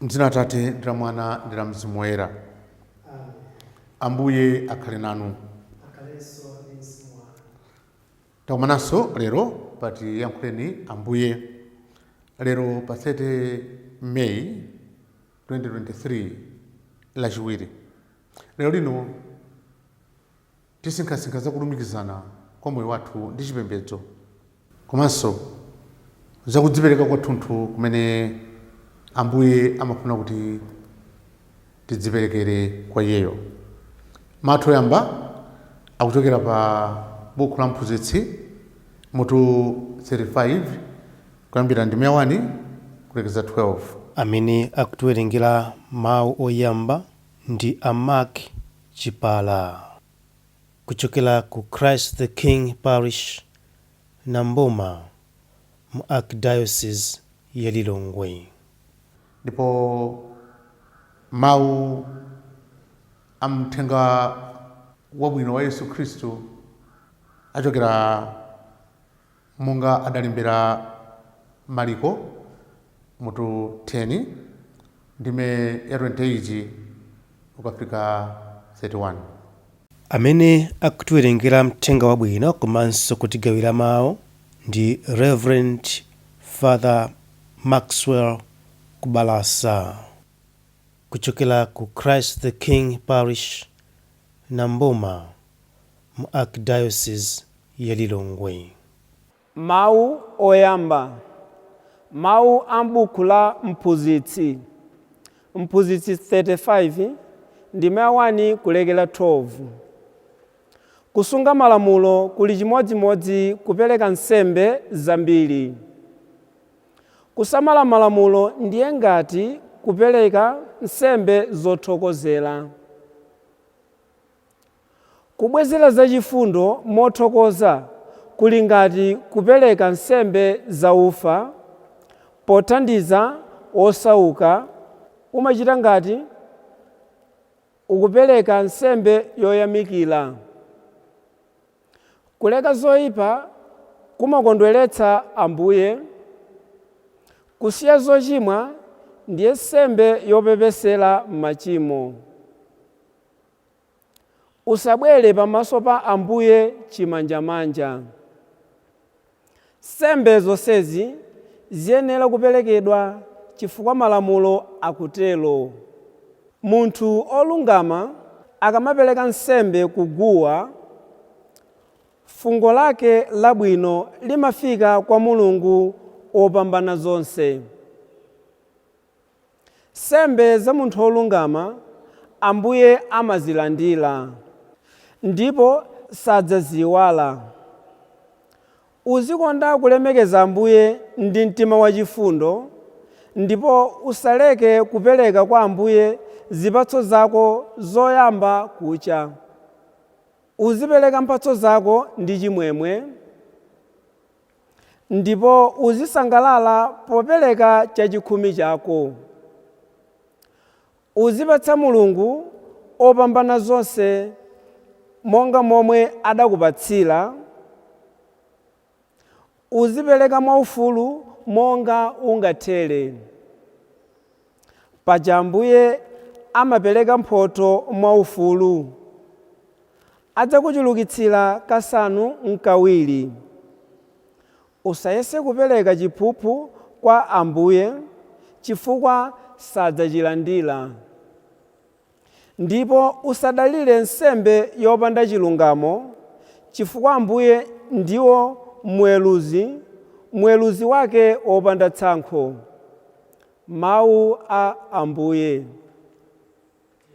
mdzina la atate ndi la mwana ndi la mzimu woyera ambuye akhale nanu takumananso lero pati yankhuleni ambuye lero pa 30 may 2023 lachiwiri lero lino Tisinkhasinkha za kulumikizana kwa moyo wathu ndi chipembedzo komanso za kudzipereka kwathunthu kumene Ambuye amafuna kuti tidziperekere kwa Iyeyo. Mawu athu oyamba akuchokera pa bukhu la Mphunzitsi, mutu 35, kuyambira ndime ya 1 kulekeza 12. Amene akutiwerengera mawu oyamba ndi a Mark. Chipala. Kuchokera ku Christ the King Parish, Nambuma, mu Archdiocese ya Lilongwe. Ndipo Mau a m'Mthenga Wabwino wa Yesu Khristu achokera Monga adalembera Maliko mutu 10 ndime ya 28 kukafika 31. Amene akutiwerengera Mthenga Wabwino komanso kutigawira mau ndi Reverend Father Maxwell Kubalasa kuchokera ku Christ the King Parish, Nambuma. mu Archdiocese ya Lilongwe. Mawu Oyamba, Mawu a m'buku la Mphunzitsi, Mphunzitsi 35, ndime ya 1 kulekera 12. Kusunga malamulo kuli chimodzimodzi kupereka nsembe zambiri. Kusamala malamulo ndiye ngati kupereka nsembe zothokozera. Kubwezera zachifundo mothokoza kuli ngati kupereka nsembe za ufa pothandiza wosauka, umachita ngati ukupereka nsembe yoyamikira. Kuleka zoipa kumakondweretsa Ambuye, kusiya zochimwa ndiye nsembe yopepesera machimo. Usabwere pamaso pa Ambuye chimanjamanja. Nsembe zonsezi ziyenera kuperekedwa chifukwa malamulo akutero. Munthu olungama akamapereka nsembe ku guwa, fungo lake labwino limafika kwa Mulungu Wopambanazonse. Nsembe za munthu wolungama Ambuye amazilandira, ndipo sadzaziiwala. Uzikonda kulemekeza Ambuye ndi mtima wachifundo, ndipo usaleke kupereka kwa Ambuye zipatso zako zoyamba kucha. Uzipereka mphatso zako ndi chimwemwe. Ndipo uzisangalala popereka chachikhumi chako. Uzipatsa Mulungu opambanazonse monga momwe adakupatsira. Uzipereka mwaufulu monga ungathere. Paja Ambuye amapereka mphotho mwaufulu. Adzakuchulukitsira kasanu n'kawiri. Usayese kupereka chiphuphu kwa Ambuye chifukwa sadzachilandira. Ndipo usadalire nsembe yopanda chilungamo, chifukwa Ambuye ndiwo Mweruzi, Mweruzi wake wopanda tsankho. Mawu a Ambuye.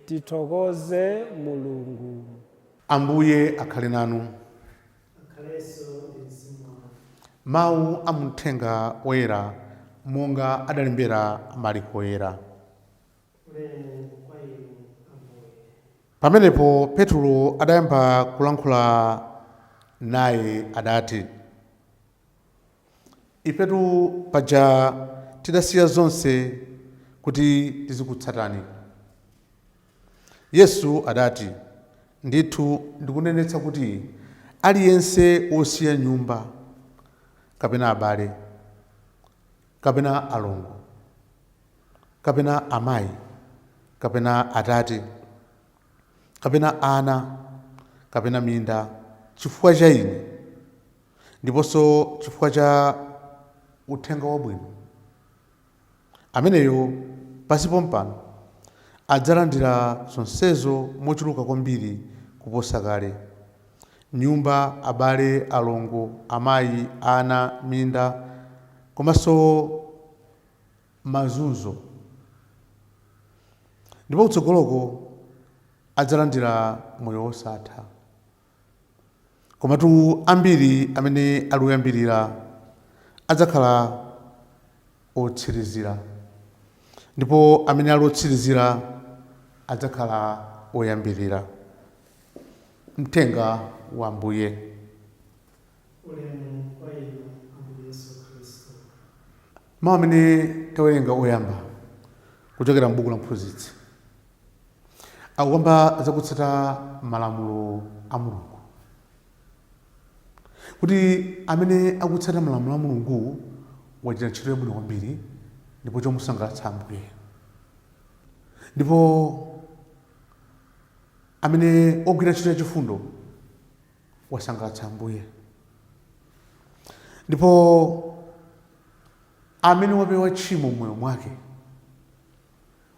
Tithokoze Mulungu. Ambuye akhale nanu. Mawu a mu Mthenga Oyera monga adalembera Maliko Oyera. Pamenepo Petulo adayamba kulankhula naye, adati, Ifetu paja tidasiya zonse kuti tizikutsatani. Yesu adati, Ndithu ndikunenetsa kuti aliyense wosiya nyumba, kapena abale, kapena alongo, kapena amayi, kapena atate, kapena ana, kapena minda, chifukwa cha ine, ndiponso chifukwa cha uthenga wabwino, ameneyo pansi pompano adzalandira zonsezo mochuluka kwambiri kuposa kale, nyumba, abale, alongo, amayi, ana, minda, komanso mazunzo, ndipo kutsogoloko adzalandira moyo wosatha. Komatu ambiri amene ali oyambirira adzakhala otsirizira, ndipo amene ali otsirizira adzakhala oyambirira. Mthenga wa Ambuye. Mau amene tawerenga oyamba kuchokera m'buku la Mphunzitsi akukamba za kutsata malamulo a Mulungu, kuti amene akutsata malamulo a Mulungu wachita ntchito yabwino kwambiri ndipo chomusangalatsa Ambuye, ndipo amene agwira ntchito yachifundo wasangalatsa Ambuye. Ndipo amene wapewa tchimo m'moyo mwake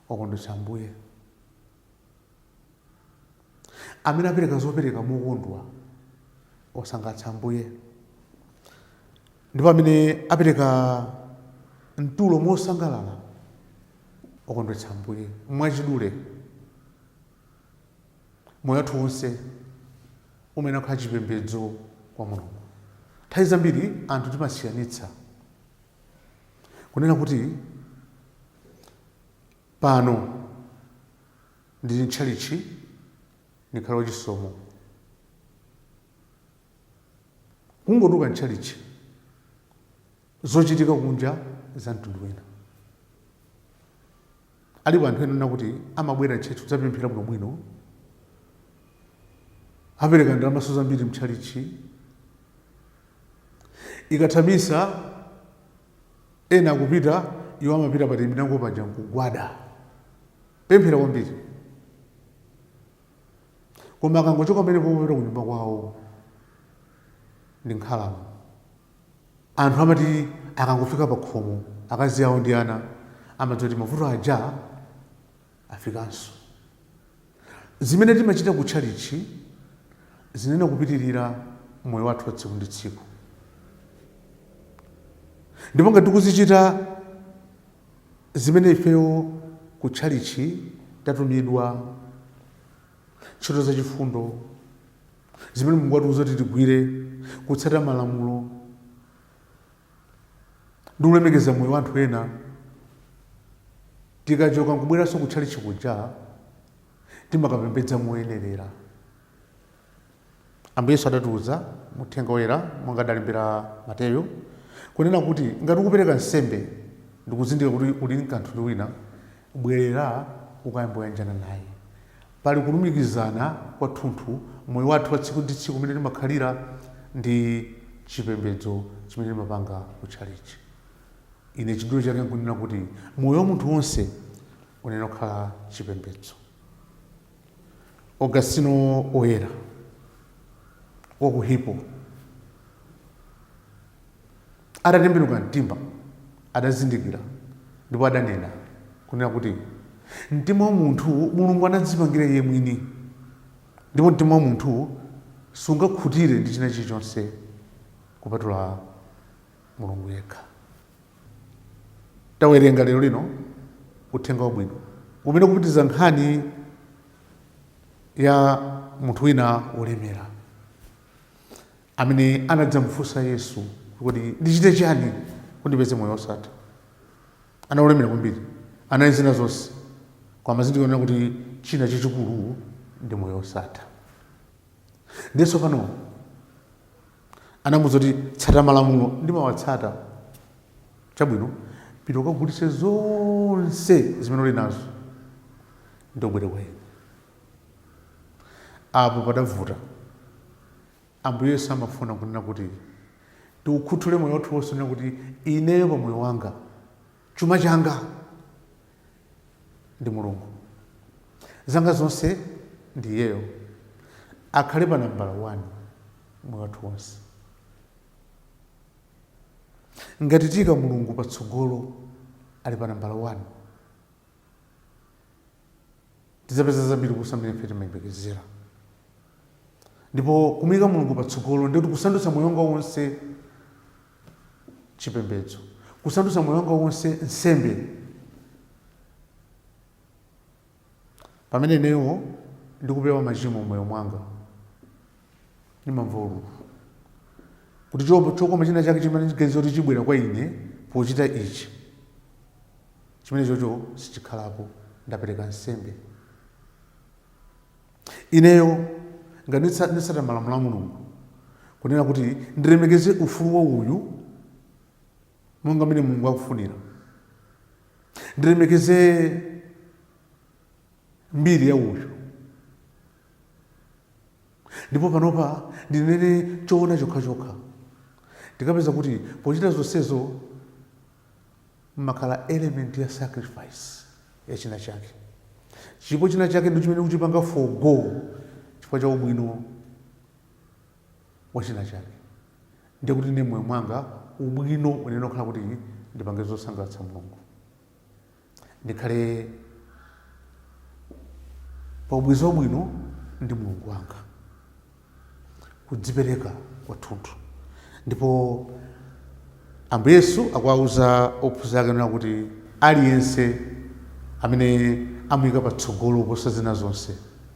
wakondwetsa Ambuye. Amene apereka zopereka mokondwa wasangalatsa Ambuye. Ndipo amene apereka mtulo mosangalala wakondwetsa Ambuye. Mwachidule, Moyo wathu wonse umayenera kukhala chipembedzo kwa Mulungu. Nthawi zambiri anthu timasiyanitsa kunena kuti pano ndili mtchalitchi ndikhale wachisomo, kungotuluka mtchalitchi zochitika kunja za mtundu wina. Alipo anthu ena ena oti amabwera mchalitchi kudzapemphera bwino bwino, apereka ndalamanso zambiri mchalitchi, ikatha misa ena akupita iwo amapita pa terminango paja nkugwada pemphera kwambiri, koma akangochoka pamenepo popita kunyumba kwawo ndi nkhalamu. Anthu amati akangofika pakhomo, akazi awo ndi ana amadziwa kuti mavuto aja afikanso. Zimene timachita ku tchalitchi ziyenera kupitirira moyo wathu wa tsiku ndi tsiku, ndipo ngati tikuzichita zimene ifeyo ku tchalitchi tatumidwa, ntchito za chifundo, zimene mulungu watiuza kuti tigwire kutsata malamulo ndi kulemekeza moyo wa anthu ena tikachoka nkubweranso kutchalitchi kuja timakapembedza moyenerera ambuye yesu adatiuza muthenga woyera monga adalembera mateyo kunena kuti ngati ukupereka nsembe ndikuzindikira kuti uli ndi kanthu ndi wina Bwerera ukayambe wayanjana naye. Pali kulumikizana kwathunthu m'moyo wathu wa tsiku ndi tsiku umene timakhalira ndi chipembedzo chimene timapanga ku tchalitchi. Ine chidule chake nkunena kuti moyo wa munthu wonse unayenera kukhala chipembedzo. Augustino Woyera wa ku Hippo. Atatembenuka mtima, adazindikira ndipo adanena, kunena kuti, Mtima wa munthu Mulungu anadzipangira iye mwini, ndipo mtima wa munthu sungakhutire ndi china chilichonse kupatula Mulungu yekha. Tawerenga lero lino Uthenga Wabwino umene ukupitiza nkhani ya munthu wina wolemera. amene anadzamfunsa Yesu kuti, Ndichite chiyani kuti ndipeze moyo wosatha? Anali olemera kwambiri anali zina zonse koma anazindikira kunena kuti china chachikulu ndi moyo wosatha. Ndiye tsopano anamuuza kuti tsata malamulo ndimawatsata. Chabwino, pita ukagulitse zonse zimene uli nazo ndi ubwere kwa ine. Apo padavuta. Ambuye Yesu amafuna kunena kuti tiukhuthule moyo wathu wonse kunena kuti ineyo pa moyo wanga chuma changa ndi Mulungu. Zanga zonse ndi iyeyo. Akhale pa nambala 1 moyo wathu wonse. Ngati tiika Mulungu patsogolo ali pa nambala 1, tidzapeza zambiri kuposa mmene ife timayembekezera ndipo kumuyika mulungu patsogolo ndikuti kusandutsa moyo wanga wonse chipembedzo kusandutsa moyo wanga wonse nsembe pamene ineyo ndikupewa machimo moyo mwanga ndimamva ululu kuti chokoma china chake chimene ndimaganiza kuti chibwera kwa ine pochita ichi Chimenechocho sichikhalapo. Ndapereka nsembe ineyo. Ngati nditsata malamulo a Mulungu, kunena kuti ndilemekeze ufulu wa uyu monga mmene Mulungu akufunira, ndilemekeze mbiri ya uyu, ndipo panopa ndinene choona chokhachokha, ndikapeza kuti pochita zonsezo mumakhala element ya sacrifice ya chinachake. Chipo chinachake ndi chimene kuchipanga forgo chifukwa cha ubwino wa chinachake. Ndiye kuti ine mmoyo mwanga ubwino unene ukhala kuti ndipange zosangalatsa Mulungu. Ndikhale pa ubwenzi wabwino ndi Mulungu wanga. kudzipereka kwathunthu. Ndipo Ambuye Yesu akuwauza ophunzira ake nena kuti aliyense amene amuyika patsogolo kuposa zina zonse,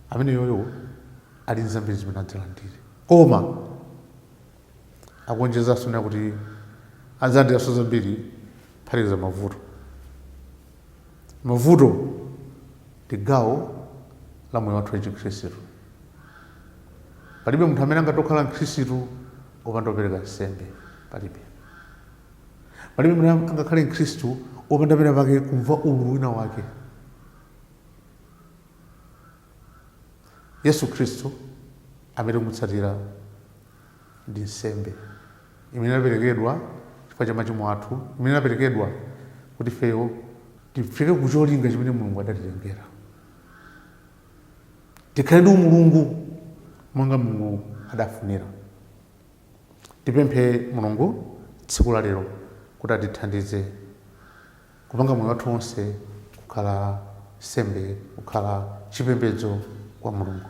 ameneyoyo ali nzambiri zimene adzalandire. Koma. Akuonjezanso kunena kuti adzalandiranso zambiri kuphatikiza mavuto. Mavuto ndi gawo la moyo wathu wachikhristu. Palibe munthu amene angatokhala Mkhristu opanda kupereka nsembe. Palibe. Palibe munthu angakhale Mkhristu opanda pena pake kumva ululu wina wake. Yesu Khristu amene tikumutsatira ndi nsembe imene idaperekedwa chifukwa cha machimo athu, imene idaperekedwa kuti ifeyo tifike ku cholinga chimene Mulungu adatilengera. Tikhale ndi umulungu monga Mulungu adafunira. Tipemphe Mulungu tsiku la lero kuti atithandize kupanga moyo wathu wonse kukhala nsembe, kukhala chipembedzo kwa Mulungu.